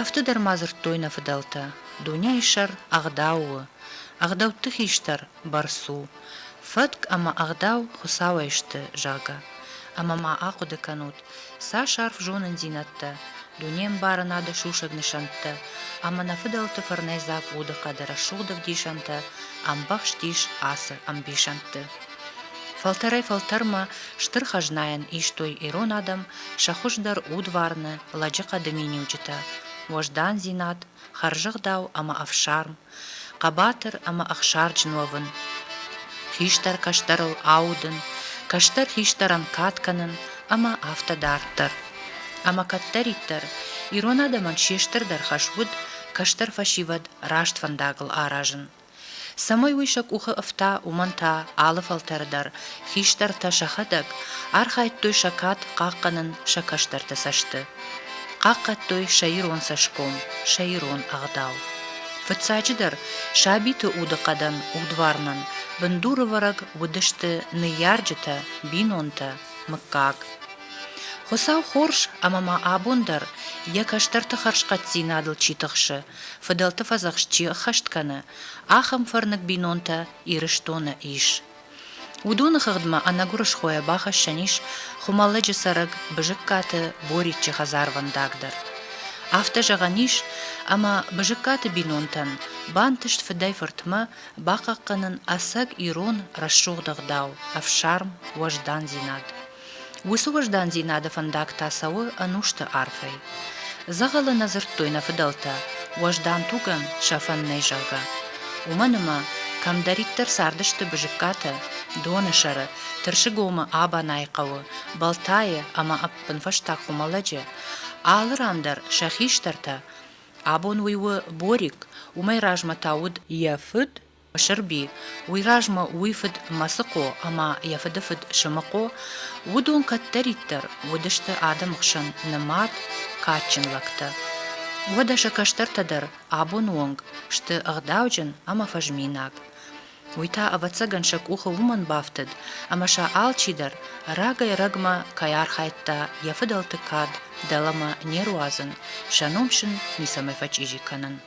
Афтӕ дӕр ма дзырдтой нӕ фыдӕлтӕ, дунейы сӕр ӕгъдау у, ӕгъдӕутты хистӕр бӕрц у, фӕтк ӕмӕ ӕгъдау Хуыцауӕй сты, зӕгъгӕ. Ӕмӕ ма ахъуыды кӕнут, цас арф зонындзинӕдтӕ, дунеӕмбарынады сусӕг нысӕнттӕ ӕмӕ нӕ фыдӕлты фӕрнӕйдзаг удыхъӕды рӕсугъд ӕвдисӕнтӕ ӕмбӕхст ис ацы ӕмбисӕндты. Фӕлтӕрӕй-фӕлтӕрмӕ стыр хӕзнайӕн истой ирон адӕм сӕ хуыздӕр удварны лӕджыхъӕды миниуджытӕ – уӕздандзинад, хӕрзӕгъдау ӕмӕ ӕфсарм, хъӕбатыр ӕмӕ ӕхсарджын уӕвын, хистӕр кӕстӕрыл аудын, кӕстӕр хистӕрӕн кад кӕнын ӕмӕ афтӕ дарддӕр. Ӕмӕ кӕддӕриддӕр ирон адӕмӕн се стырдӕр хӕс уыд кӕстӕр фӕсивӕд раст фӕндагыл аразын. Цӕмӕй уый сӕ къухы ӕфта, уымӕн та алы фӕлтӕры дӕр хистӕртӕ сӕхӕдӕг архайдтой сӕ кад хъахъхъӕнын сӕ кӕстӕрты цӕсты. Хъахъхъӕдтой сӕ ирон цӕсгом, сӕ ирон ӕгъдау. Фыццаджыдӕр, сабиты удыхъӕдӕн, удварнӕн бындурывӕрӕг уыдысты ныййарджытӕ, бинонтӕ, мыггаг. Хуыцау хорз ӕмӕ ма абон дӕр йӕ кӕстӕрты хӕрзхъӕддзинадыл чи тыхсы, фыдӕлты фӕдзӕхст чи ӕххӕст кӕны, ахӕм фӕрныг бинонтӕ Ирыстоны ис. Уыдоны хыгъдмӕ ӕнӕгуырысхойӕ бахӕссӕн ис Хуымӕллӕджы цӕрӕг Бызыккаты Бориччы хӕдзарвӕндаг дӕр. Афтӕ зӕгъӕн ис, ӕмӕ Бызыккаты бинонтӕн бантыст фыдӕй-фыртмӕ бахъахъхъӕнын ӕцӕг ирон рӕсугъд ӕгъдау, ӕфсарм, уӕздандзинад. Уыцы уӕздандзинады фӕндаг та цӕуы ӕнусты арфӕй. Дзӕгъӕлы нӕ дзырдтой нӕ фыдӕлтӕ, уӕздан тугӕн сӕфӕн нӕй, зӕгъгӕ. Уымӕн ӕмӕ кӕмдӕриддӕр цардысты Бызыккатӕ, Доны сӕры, Тырсыгомы, Абанайы хъӕуы, Балтайы ӕмӕ ӕппынфӕстаг Хуымӕлӕджы, алы ран дӕр сӕ хистӕртӕ, абон уый у Борик, уымӕй размӕ та уыд, йӕ фыд Мысырби, уый размӕ уый фыд Мӕцыхъо ӕмӕ йӕ фыды фыд Сымыхъо, уыдон кӕддӕриддӕр уыдысты адӕмы хсӕн нымад, кадджын лӕгтӕ. Уӕдӕ сӕ кӕстӕртӕ дӕр абоны онг сты ӕгъдауджын ӕмӕ фӕзминаг. Уый та, ӕвӕццӕгӕн, сӕ къухы уымӕн бафтыд, ӕмӕ сӕ алчидӕр рагӕй-рӕгмӕ кӕй архайдта йӕ фыдӕлты кад дӕлӕмӕ не руадзын, сӕ ном сын ницӕмӕй фӕчъизи кӕнын.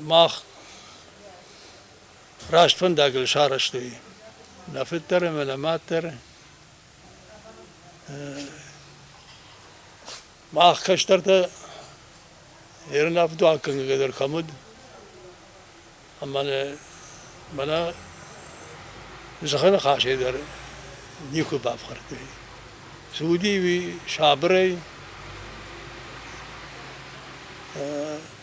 мах раст фӕндагыл сарӕзтой нӕ фыд дӕр ӕмӕ нӕ мад дӕр. Мах кӕстӕртӕ ерынӕфдуаггӕнгӕ дӕр кӕм уыд, ӕмӕ мӕнӕ зӕххы ныхасӕй дӕр никуы бафхӕрдтой. Цы уыди уый сабырӕй,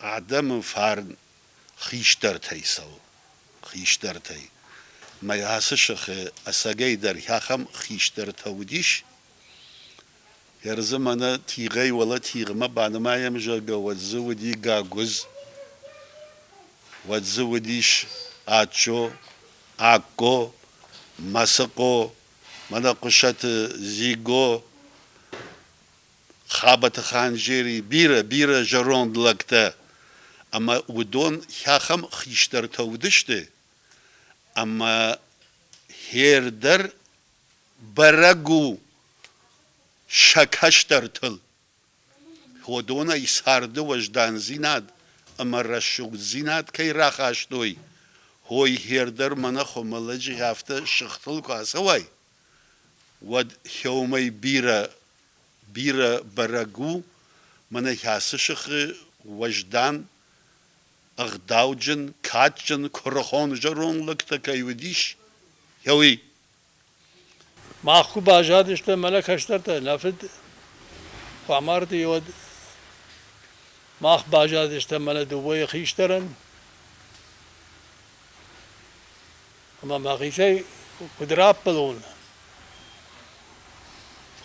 Адӕмы фарн хистӕртӕй цӕуы, хистӕртӕй. Мӕ ацы сыхы ӕцӕгӕй дӕр ахӕм хистӕртӕ уыдис. Кӕрдзы мӕнӕ тигъӕй уӕлӕ тигъмӕ банымайӕм, зӕгъгӕ, уӕд дзы уыди гагуыдз, уӕд дзы уыдис ачо, акко, мӕсыхъо, мӕнӕ Хъуысаты Дзиго. Хабӕты Ханджери бирӕ-бирӕ зӕронд лӕгтӕ ӕмӕ уыдон хӕхӕм хистӕртӕ уыдысты, ӕмӕ хер дӕр бӕрӕг у сӕ кӕстӕртыл. Уыдонӕй царды уӕздандзинад ӕмӕ рӕсугъддзинад кӕй рахастой, уой хер дӕр мӕнӕ хуымӕллӕджы афтӕ сыгъдыл куы ацӕуай, Уӕд Хеумӕ бирӕ, бирӕ бӕрӕг у, мӕнӕ ацы сыхы уӕздан, ӕгъдауджын, кадджын, куырыхон зӕронд лӕгтӕ кӕй уыдис, уый. Мах куы баззадыстӕм мӕнӕ кӕстӕртӕ, нӕ фыд куы амарди, уӕд мах баззадыстӕм мӕнӕ дыууӕйы хистӕрӕн. ӕма мӕхецӕй куд раппӕлон,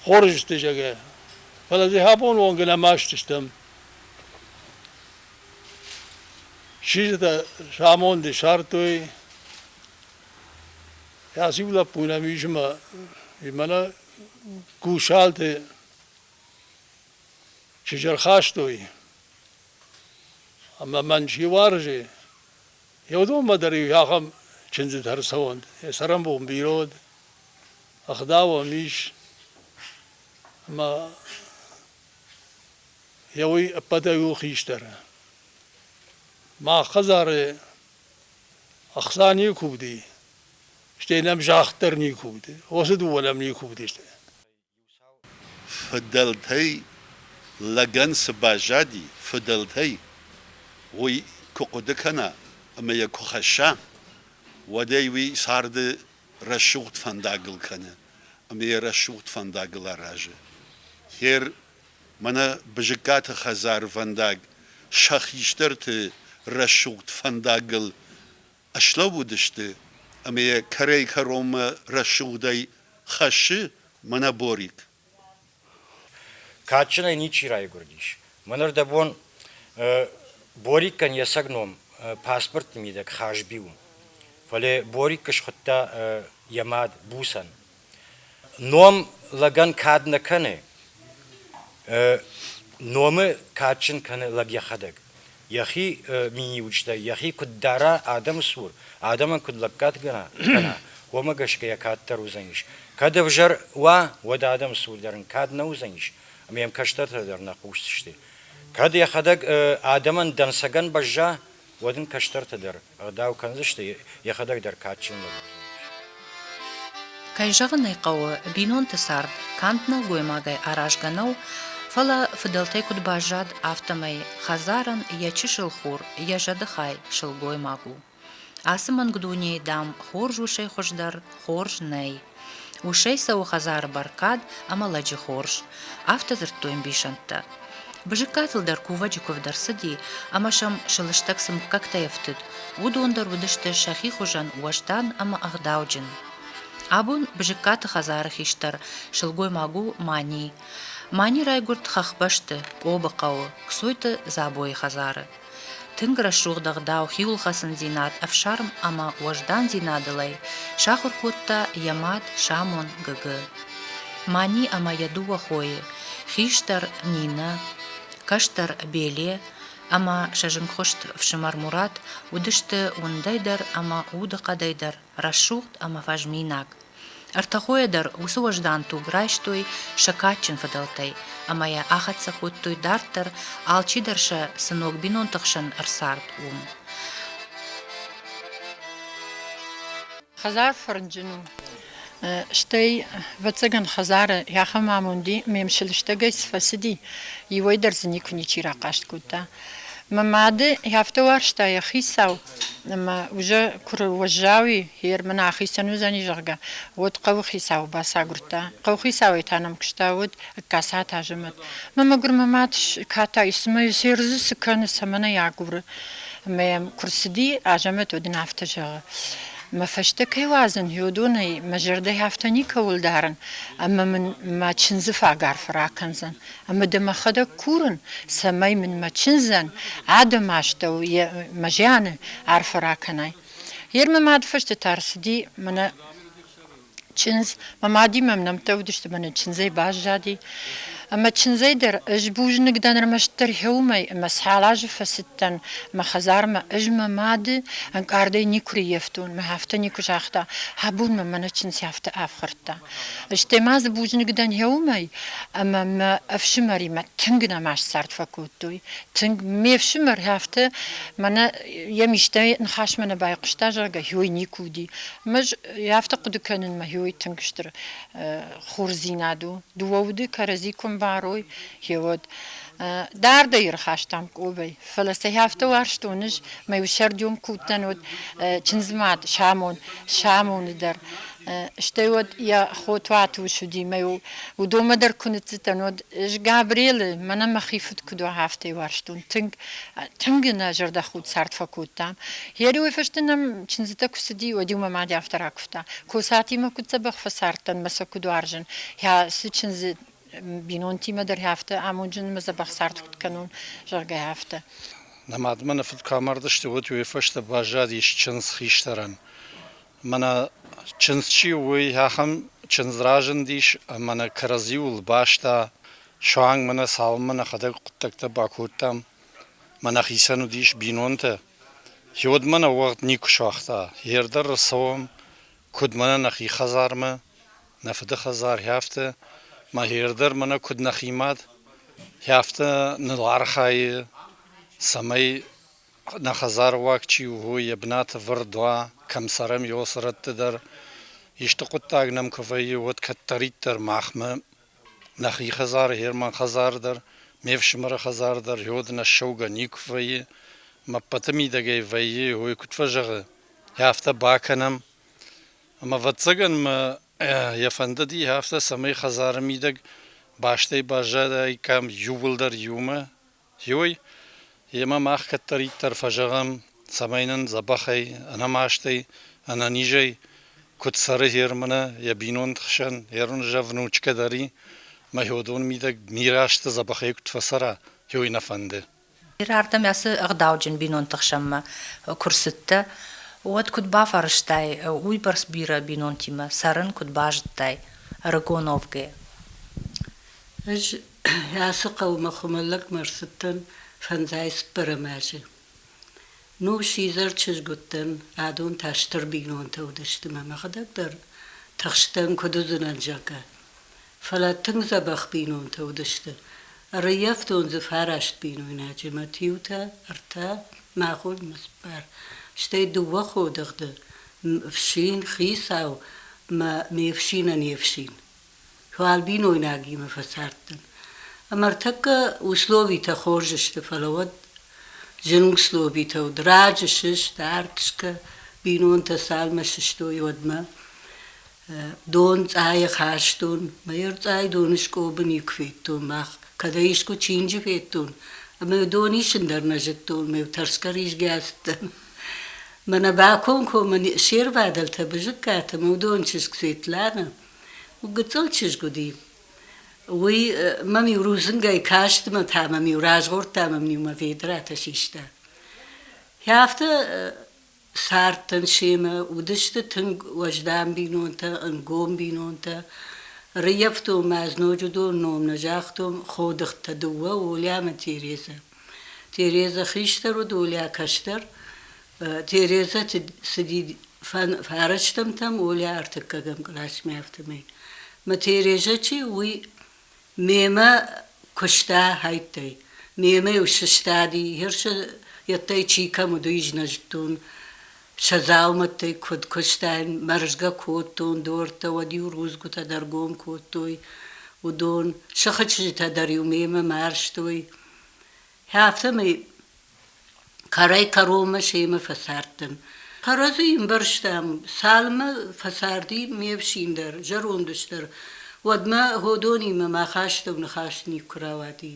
хорз сты, зӕгӕ. Фӕлӕ дзы абон онг нӕма стыстӕм. Сизытӕ самонди сардтой. Аци лӕппу нӕм ис ӕма мӕнӕ кусалты сизӕрхастой. Ӕма мӕн си уарзы, Еудонмӕ дӕр-иу ахӕм чындзытӕ ӕрцӕуӕнт, йӕ цӕрӕнбон бирод, ӕгъдауӕн ис, ӕмӕ йӕ уый ӕппӕтӕй у хистӕр. Мах хӕдзары ӕхца никуы уыди, стӕй нӕм загъд дӕр никуы уыди, уыцы дыууӕ нӕм никуы уыдысты. Фыдӕлтӕй лӕгӕн цы баззади, фыдӕлтӕй уый куы хъуыды кӕна ӕмӕ йӕ куы хӕсса, уӕдӕй уый царды рӕсугъд фӕндагыл кӕны ӕмӕ йӕ рӕсугъд фӕндагыл аразы. Гъер мӕнӕ Бызыккаты хӕдзарвӕндаг сӕ хистӕрты рӕсугъд фӕндагыл Ыслӕууыдысты ӕмӕ йӕ кӕрӕй-кӕронмӕ рӕсугъдӕй хӕссы мӕнӕ Борик. Кадджынӕй ничи райгуырдис. Мӕныр дӕ бон Борикӕн йӕ цӕг ном паспортты мидӕг Хазби у. Фӕлӕ Борикы схуыдта йӕ мад Буцӕн. Ном лӕгӕн кад нӕ кӕны, номы кадджын кӕны лӕг йӕхӕдӕг. Йӕхи миниуджытӕй, йӕхи куыд дара адӕмы цур, адӕмӕн куыд лӕггад кӕна, кӕна, уымӕ гӕсгӕ йӕ кад дӕр уыдзӕнис. Кӕд ӕвзӕр уа, уӕд адӕмы цур дӕр ын кад нӕ уыдзӕнис, ӕмӕ йӕм кӕстӕртӕ дӕр нӕ хъусдзысты. Кӕд йӕхӕдӕг адӕмӕн дӕнцӕгӕн бӕзза, уӕд ын кӕстӕртӕ дӕр ӕгъдау кӕндзысты, йӕхӕдӕг дӕр кадджын лӕг уыдзӕнис. Кӕй зӕгъын ӕй хъӕуы, бинонты цард канд нӕлгоймагӕй аразгӕ нӕу, фӕлӕ, фыдӕлтӕй куыд баззад, афтӕмӕй, хӕдзарӕн йӕ чысыл хур йӕ зӕдыхай сылгоймаг у. Ацы мӕнг дунейы, дам, хорз усӕй хуыздӕр хорз нӕй. Усӕй цӕуы хӕдзары бӕркад ӕмӕ лӕджы хорз. Афтӕ дзырдтой ӕмбисӕндтӕ. Бызыккатыл дӕр кувӕджы куывд ӕрцыди, ӕмӕ сӕм сӕ лыстӕг цы мыггӕгтӕй ӕфтыд, уыдон дӕр уыдысты сӕхи хуызӕн уӕздан ӕмӕ ӕгъдауджын. Абон Бызыккаты хӕдзары хистӕр сылгоймаг у Мани. Мани райгуырд хӕхбӕсты, Къобы хъӕуы, Кцойты Дзабойы хӕдзары. Тынг рӕсугъд ӕгъдау, хиуылхӕцындзинад, ӕфсарм ӕмӕ уӕздандзинадылӕй сахуыр кодта йӕ мад Самон Гыгы. Мани ӕмӕ йӕ дыууӕ хойы, хистӕр Нинӕ, кӕстӕр Беле ӕмӕ сӕ зынгхуыст фсымӕр Мурат уыдысты уындӕй дӕр ӕмӕ удыхъӕдӕй дӕр рӕсугъд ӕмӕ фӕзминаг. Ӕртӕ хойӕ дӕр уыцы уӕздан туг райстой сӕ кадджын фыдӕлтӕй ӕмӕ йӕ ахӕццӕ кодтой дарддӕр, алчидӕр сӕ цы ног бинонты хсӕн ӕрцард, уым. Хӕдзар фӕрнджын у. Стӕй, ӕвӕццӕгӕн, хӕдзары йӕ ахӕм амонд и, ме мсӕлыстӕгӕй цы фӕцыди, иуӕй дӕр дзы никуы ничи рахъаст кодта. Мӕ мады афтӕ уарзта йӕ хицау, ӕмӕ уызӕ куы уӕззау и, хер мын ахицӕн уыдзӕни, зӕгъгӕ, уӕд хъӕуыхицауы бацагуырдта. Хъӕуыхицауӕй та нӕм куыста уыд ӕгкасат азӕмӕт. Мӕ мӕгуыр мӕ мад катай, цыма йӕ се рдзы цы кӕны, цӕмӕн ӕй агуры. Ӕмӕ йӕм куы рцыди, Азӕмӕт уӕд ын афтӕ зӕгъы, Мӕ фӕстӕ кӕй уадзын, йодонӕй мӕ зӕрдӕйы афтӕ никӕуыл дарын, ӕмӕ мын мӕ чындзы фаг арф ракӕндзӕн. Ӕмӕ дӕ мӕхӕдӕг курын, цӕмӕй мын мӕ чындзӕн адӕмы астӕу мӕ зианы арфӕ ракӕнай. Йе рмӕ мадфӕстӕ ӕрцыди мӕнӕ чындз. Мӕ мадимӕ мӕм нӕмттӕ уыдысты, мӕнӕ чындзӕй баззади. Ӕмӕ чындзӕй дӕр ӕз бузныг дӕн ӕрмӕстдӕр гъеуымӕй, ӕмӕ цал азы фӕцыдтӕн мӕ хӕдзармӕ, ӕз мӕ мады ӕнкъардӕй никуы риййӕфтон, мӕ афтӕ никуы загъта, абон мӕм мӕнӕ чындз афтӕ ӕфхӕрдта. Стӕй ма дзы бузныг дӕн гъеуымӕй, ӕмӕ мӕ ӕфсымӕримӕ тынг нӕма сцард фӕкодтой. Тынг ме фсымӕр афтӕ мӕнӕ йӕм истӕй ныхасмӕ нӕ байхъуыста, зӕгъгӕ, гьой никуы уыди. Ӕмӕ ӕз афтӕ хъуыды кӕнынмӕ гьой тынг стыр хорздзинад у. Дыууӕ уды кӕрӕдзи куы мбарой, гьеуӕд. Дардӕй ӕрхастам Къобӕй, фӕлӕ сӕ афтӕ уарзтон ӕз, мӕ иу сӕрдион куы уыдтӕн уӕд чындзмад Самон, Самоны дӕр. Стӕй уӕд йӕ хотуатус уыди мӕ йыл уыдонмӕ дӕр куы ныццыдтӕн, уӕд ӕз Габрелы, мӕнӕ мӕхи фыд куыд уа, афтӕ уарзтон. Тынг, тынг нӕ зӕрдӕхудт цард фӕкодтам. Гъериуӕй фӕсте нӕм чындзытӕ куы цыди, уӕд-иу мӕ мад афтӕ ракуывта, Косатимӕ куыд дзӕбӕх фӕцардтӕн мӕ сӕ куыд уарзын, ӕ цы чындзы бинонтимӕ дӕр афтӕ амонджын ӕмӕ дзӕбӕх цард куыд кӕнон, зӕгъгӕ, афтӕ. Нӕ мадмӕ нӕ фыд куы амардысты, уӕд уый фӕстӕ баззадис чындз хистӕрӕн. Мӕнӕ чындз чи у, уый ахӕм чындз разындис ӕмӕ нӕ кӕрӕдзиуыл баста. Суанг мӕ нӕ цалынмӕ нӕхӕдӕг хъуыддӕгтӕ бакодтам, мӕнӕ хицӕн уыдис бинонтӕ. Уӕдмӕ нӕ уӕгъд никуы суагъта. Йе рдӕр рцӕуӕм, куыд мӕнӕ нӕхи хӕдзармӕ, нӕ фыды хӕдзар, афтӕ. Мӕхи рдӕр мӕнӕ куыд нӕхи мад, афтӕ ныл архайы, цӕмӕй Нӕ хӕдзаруаг чи у, уый йӕ бынаты вырд уа, кӕм цӕрӕм, ёсырӕтты дӕр. Исты хъуыддаг нӕм куы вӕййы, уӕд кӕддӕриддӕр махмӕ, нӕхи хӕдзары, Герман хӕдзары дӕр, ме фсымӕры хӕдзары дӕр ёд ӕнӕссӕугӕ никуы вӕййы. Ме ппӕты мидӕгӕй вӕййы, уый куыд фӕзӕгъы, афтӕ бакӕнӕм. Ӕмӕ ӕвӕццӕгӕн мӕ йӕ фӕндыди афтӕ, цӕмӕй хӕдзары мидӕг бастӕй баззадаиккам иууылдӕр иумӕ, Иой йемӕ мах кӕддӕриддӕр фӕзӕгъӕм, цӕмӕй нын дзӕбӕхӕй, ӕнӕмастӕй, ӕнӕнизӕй куыд цӕры Германы йӕ бинонты хсӕн ӕрвнзӕв внучкӕ дӕр и, мӕйодон мидӕг бирӕ азты дзӕбӕхӕй куыд фӕцӕра, иой нӕ фӕнды. Бирӕ ардӕм ацы ӕгъдауджын бинонты хсӕнмӕ куы рцыдтӕ, уӕд куыд бафӕрӕзтай, уыйбӕрц бирӕ бинонтимӕ цӕрын куыд базыдтай ӕрыгон Овгӕ? Ӕз Ацы хъӕумӕ хуымӕллӕгмӕ рцыдтӕн фӕндзай цыппӕрӕм азы. Нус изӕр чызг уыдтӕн, адон та стыр бинонтӕ уыдысты мӕ мӕхӕдӕг дӕр тыхстӕн, куыд уыдзынӕн, зӕгъгӕ. Фӕлӕ тынг дзӕбӕх бинонтӕ уыдысты. Ӕрӕййӕфтон дзы фараст бинойнаджы, мӕт иутӕ, ӕртӕ, мӕ хо, мӕ цыппар. Стӕй дыууӕ ходыгъды, фсин, хицау мӕ ме фсинӕн йе фсин. Уал бинойнагимӕ фӕцардтӕн. Ӕмӕ ӕртӕккӕ условитӕ хорз сты, фӕлӕ уӕд зын условитӕ уыд. Раджы сыст, ӕртскӕ бинонтӕ цалмӕ сыстой, уӕдмӕ дон цъайы хастон. Мӕ ӕрцъай доны скъобы никуы федтон мах. Кӕдӕй искуы чинджы федтон. Ӕмӕ дон исын дӕр нӕ зыдтон, ме тӕрсгӕ ризгӕ цыдтӕн. Мӕнӕ бакомкоммӕ се рвадӕлтӕ, бызыккатӕ, мӕ удон чызг Светланӕ, Гыццыл чызг уыди. Уый мӕм-иу рудзынгӕй каст мӕ та мӕм-иу разгъордта, мӕм-иу мӕ ведратӕ систа. Афтӕ цардтӕн семӕ, уыдысты тынг уӕздан бинонтӕ, ӕнгом бинонтӕ. Рыййӕфтон ма ӕз ноджы дон ном нӕ загътон Ходыхтӕ дыууӕ, Оля ӕмӕ Тереза. Тереза хистӕр уыд, Оля кӕстӕр. Тереза цыди фӕрӕстӕмтӕм Оля ӕртыккӕгӕм классмӕ, афтӕмӕй. Мӕ Тереза чи у, уый мемӕ куыста хӕйттӕй. Мемӕ-иу сыстади, хирсы йедтӕй чи кӕм уыд, уый знӕзтон. Сӕ дзаумӕттӕй куыд куыстаин, мӕрзгӕ кодтон дортӕ, уӕд-иу рудзгуытӕ дӕр гом кодтой уыдон. Сыхы чызджытӕ дӕр-иу мемӕ марзтой. Хӕцӕм ӕй кӕрӕй-кӕронмӕ семӕ фӕцардтӕн. Кӕрӕдзи ӕмбӕрстам, цалынмӕ фӕцарди ме фсин дӕр, зӕронд ус дӕр, уӕдмӕ Годонимӕ мӕ хӕстӕг ныхас никуы рауади.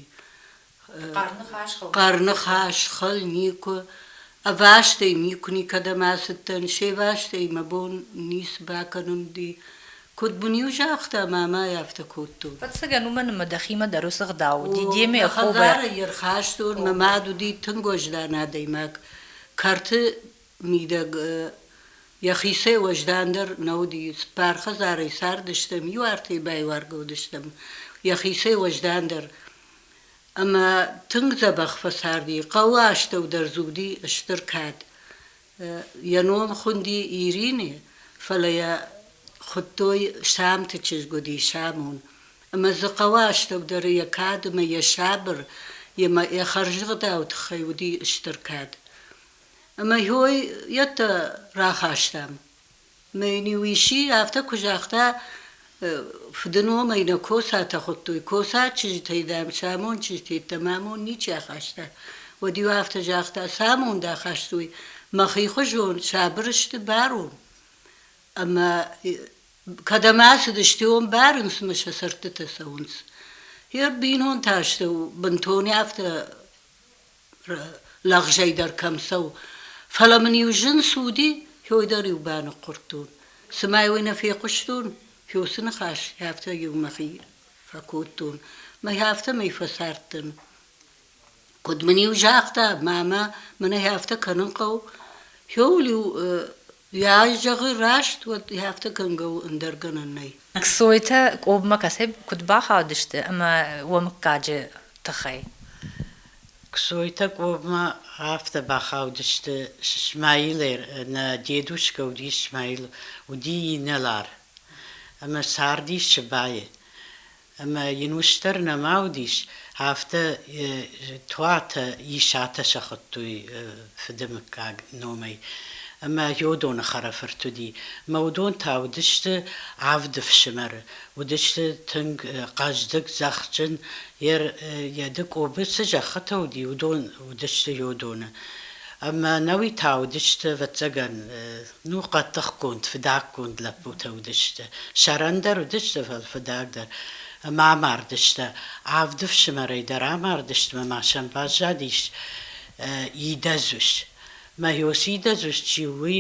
Хъӕр ныхас хыл. Хъӕр ныхас хыл никуы. Ӕвастӕй никуы никӕдӕм ацыдтӕн, се вастӕй мӕ бон ницы бакӕнын уыди. Куыд бын-иу загъта, мамӕ афтӕ кодтон. Ӕцӕгӕн, уымӕн ӕмӕ дӕхимӕ дӕр уыцы гъдау уыди, Демӕ Йегъовӕ. Хӕдзары ӕрхастон, мӕ мад уыди тынг уӕздан адӕймаг, кӕрты мидӕг йӕхицӕй уӕздандӕр нӕ уыди. Цыппар хӕдзарӕй цардыстӕм, иу артӕй байуаргӕ уыдыстӕм йӕхицӕй уӕздандӕр. Ӕмӕ тынг дзӕбӕх фӕцарди. Хъӕуы астӕу дӕр дзы уыди стыр кад. Йӕ ном хуынди Ирини, фӕлӕ йӕ хуыдтой Сӕмты чызг уыди Сӕмон. Ӕмӕ дзы хъӕуы астӕудӕры йӕ кад ӕмӕ йӕ сабыр, йемӕ йӕ хӕрзӕгъдау тыххӕй уыди стыр кад. Ӕмӕ хой йедтӕ рахастам. Мюнюиси афтӕ куы загъта, фыдыномӕй нӕ косатӕ хуыдтой, коса чызджытӕй, дам, сӕ амонд чызджыты йеддӕмӕ амонд ничи ахаста. Уӕд-иу афтӕ загъта, цы амонд ахастой, мӕхихуызон сабыр сты барон. Ӕмӕ кӕдӕм ацыдысты, уым барынц ӕмӕ сӕ цӕрдтытӕ цӕуынц. Йӕ бинонты астӕу бынтон афтӕ лӕгъзӕй дӕр кӕм цӕуы. Фӕлӕ мын-иу зын цы уыди, хьой дӕр-иу баныхъхъуырдтон. Цымӕ уый нӕ фехъуыстон? Фёсы ныхас афтӕ-иу мӕхи фӕкодтон. Мӕй афтӕмӕй фӕцардтӕн. Куыд мын-иу загъта, мамӕ, мын ӕй афтӕ кӕнын хъӕуы. Хьоуыл-иу Йӕ ай зӕгъы раст, уӕд афтӕ кӕнгӕ у ӕндӕр гӕнӕн нӕй. Ксойтӕ Къобмӕ кӕцӕй куыд бахаудысты ӕмӕ уӕ мыггаджы тыххӕй? Ксойтӕ Къобмӕ афтӕ бахаудысты, Исмаил нӕ дедушкӕ уыди Исмаил, уыди инӕлар ӕмӕ цардис Сыбайы. Ӕмӕ йын устдӕр нӕма уыдис, афтӕ туатӕ, исатӕ сӕ хуыдтой фыды мыггаг номӕй. Ӕмӕ Йодоны хӕрӕфырт уыди. Мӕ уыдон та уыдысты авд ӕфсымӕры. Уыдысты тынг хъӕздыг, зӕхджын. Йӕ дыкъобы цы зӕххытӕ уыди, уыдон уыдысты Йодоны. Ӕмӕ ӕнӕуи та уыдысты, ӕвӕццӕгӕн, Ну, хъӕддыхгонд, фыдӕггонд лӕппутӕ уыдысты. Сӕрӕндӕр уыдысты фӕл фыдӕгдӕр. Ӕмӕ амардысты. Авд ӕфсымӕрӕй дӕр амардысты мӕ ма сӕм баззадис идӕдз ус. Мӕ ёсы идӕдз ус чи у, уый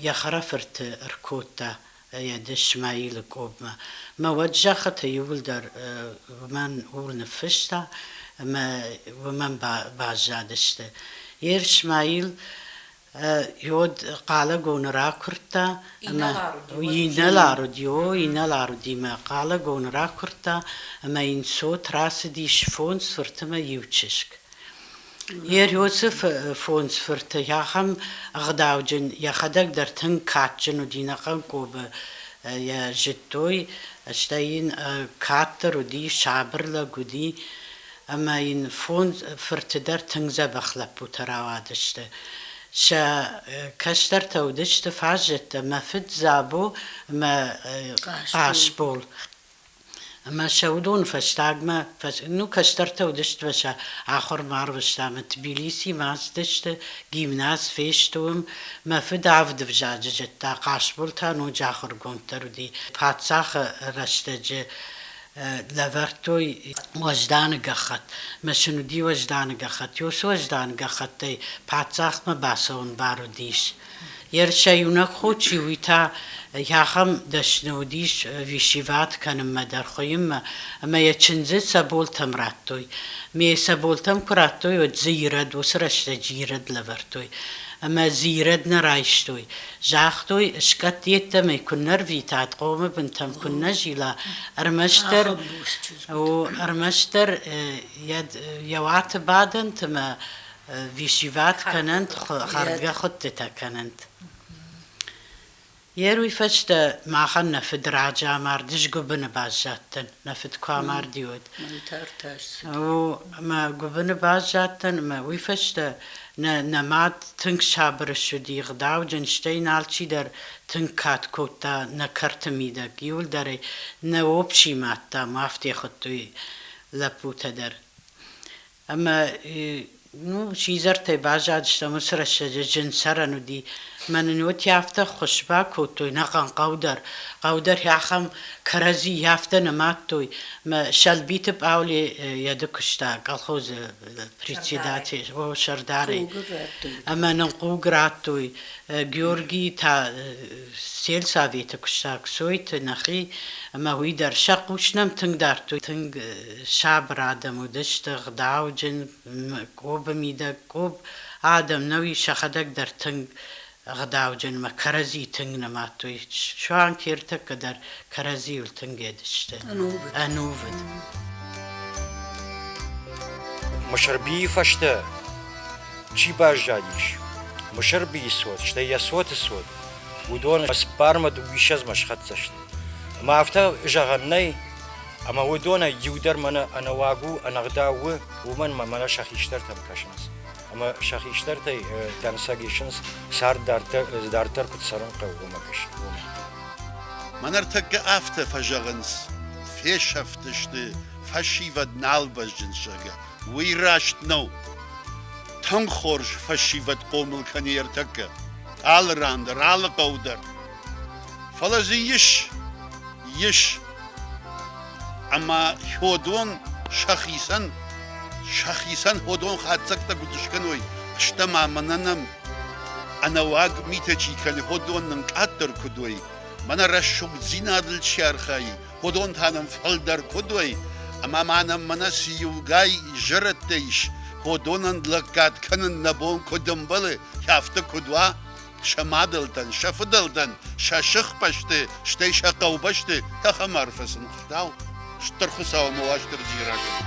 йӕ хӕрӕфырты ӕркодта йӕ дыс Мӕилы къобмӕ. Мӕ уӕд зӕххыты иууылдӕр уымӕн ур ныффыста ӕмӕ уымӕн баззадысты. Ерыс Мӕил Иод Хъалагоны ракуырдта, ӕмӕ инӕлар уыд, йо, инӕлар уыд имӕ Хъалагоны ракуырдта ӕмӕ йын цот рацыдис фондз фырты мӕ иу чызг. Ергиосы фондз фырты ахӕм ӕгъдауджын, йӕхӕдӕг дӕр тынг кадджын уыди нӕхъӕн Къобы йӕ зыдтой, стӕй йын каддӕр уыди, сабыр лӕг уыди, ӕмӕ йын фондз фырты дӕр тынг дзӕбӕх лӕппутӕ рауадысты. Сӕ кӕстӕртӕ уыдысты фаззӕттӕ, мӕ фыд Дзабо ӕмӕ Хъасбол. Ӕмӕ сӕ уыдоны фӕстагмӕ, ну, кӕстӕртӕ уыдысты мӕ сӕ ахуыр ма арвыстам. Тбилисимӕ ацыдысты, гимназ фестуым. Мӕ фыд авд ӕвзаджы зыдта, Хъасбол та ноджы ахуыргонд дӕр уыди. Паддзахы рӕстӕджы лӕвӕрдтой уӕзданы гӕххӕтт. Мӕ сын уыди уӕзданы гӕххӕтт. Ос уӕзданы гӕххӕттӕй паддзахмӕ бацӕуын бар уыдис. Ерысӕ иунӕг хо чи уый та ахӕм дӕсны уыдис висиват кӕнынмӕ дӕр хуыйынмӕ, ӕмӕ йӕ чындзы цӕболтӕм радтой. Ме цӕболтӕм куы радтой, уӕд дзы ирӕд, уыцы рӕстӕджы ирӕд лӕвӕрдтой. Ӕмӕ дзы ирӕд нӕ райстой. Загътой, скъӕтт йеддӕмӕ куыннӕ рвитат, хъомы бынтӕм куыннӕ зила, ӕрмӕстдӕр, о, ӕрмӕстдӕр йӕ уаты бадӕнтымӕ висиват кӕнӕнт, хӕргӕ хуыдтытӕ кӕнӕнт. Йе руй фӕстӕ махӕн нӕ фыдраджы амар дысгуыбыны баззадтӕн. Нӕ фыд куы амарди, уӕд. Мӕнтӕртӕ ссыд. О, ӕмӕ гуыбыны баззадтӕн ӕмӕ уый фӕстӕ нӕ, нӕ мад тынг сабыр ссыди, ӕгъдауджын, стӕй нӕ алчидӕр тынг кад кодта нӕ кӕрты мидӕг. Иуылдӕрӕй нӕ опчи мадтам, уафтӕ хуыдтой лӕппутӕ дӕр. Ӕмӕ, ну, сидзӕртӕй баззадыстӕм, уыцы рӕстӕджы зын цӕрӕн уыди. Мӕнӕ ын уотий афтӕ ххуыс бакодтой, нӕхъӕн хъӕу дӕр. Хъӕу дӕр ахӕм кӕрӕдзи афтӕ нӕ мадтой. Мӕ сӕлбиты Пъаули йӕды куыста колхозы председатель, о, сӕрдарӕй. Ӕмӕ нын хъуг радтой. Георгий та сельсоветы куыста, Ксойты нӕхи, ӕмӕ уый дӕр сӕ хъус нӕм тынг дардтой, тынг сабыр адӕм уыдысты, гъдауджын, къобы мидӕг. Къоб адӕм нӕу ис сӕхӕдӕг дӕр тынг гъдауджынмӕ, кӕрӕдзи тынг нымадтой. Суанг ӕртӕккӕ дӕр кӕрӕдзийыл тынг едысты. Ӕнувыд. Ӕнувыд. Мысырбийы фӕстӕ чи баззадис? Мысырбийы цот, стӕй йӕ цоты цот, уыдон Ӕцппармӕ дыууиссӕдзмӕ схӕццӕ сты. Ӕмӕ афтӕ зӕгъӕн нӕй, Ӕмӕ уыдонӕй иу дӕр мӕнӕ ӕнӕуаг у, ӕнӕгъдау у, уымӕн мӕ мӕнӕ сӕ хистӕртӕм кӕсынц. Ӕмӕ сӕ хистӕртӕй дӕнцӕг исынц, цард дарддӕр куыд цӕрын хъӕуы, уымӕ гӕсгӕ. Мӕнӕ ӕртӕккӕ афтӕ фӕзӕгъынц, фесӕфтысты, фӕсивӕд нал бӕзджынц, зӕгъгӕ, уый раст нӕу. Тынг хорз фӕсивӕд хъомыл кӕны ӕртӕккӕ, алы ран дӕр, алы хъӕу дӕр. Фӕлӕ дзы ис, ис, ӕмӕ хьодон сӕхицӕн, сӕхицӕн хьодон хатдзӕгтӕ куыд скӕной, стӕ ма мӕнӕ нӕм ӕнӕуаг митӕ чи кӕны, хьодон нын къаддӕр куыд уой, мӕнӕ рӕсугъддзинадыл чи архайы, хьодон та нӕм фӕлдӕр куыд уой, ӕмӕ ма нӕм мӕнӕ цы иугай изӕрӕдтӕ ис, хьодонӕн лӕггад кӕнын нӕ бон куыд ӕмбӕлы, афтӕ куыд уа, сӕ мадӕлтӕн, сӕ фыдӕлтӕн сӕ сыхбӕсты, стӕй сӕ хъӕубӕсты тӕхӕм арфӕ сын ӕгъдау, Стыр Хуыцау мӕ Уастырджийы рагӕпп.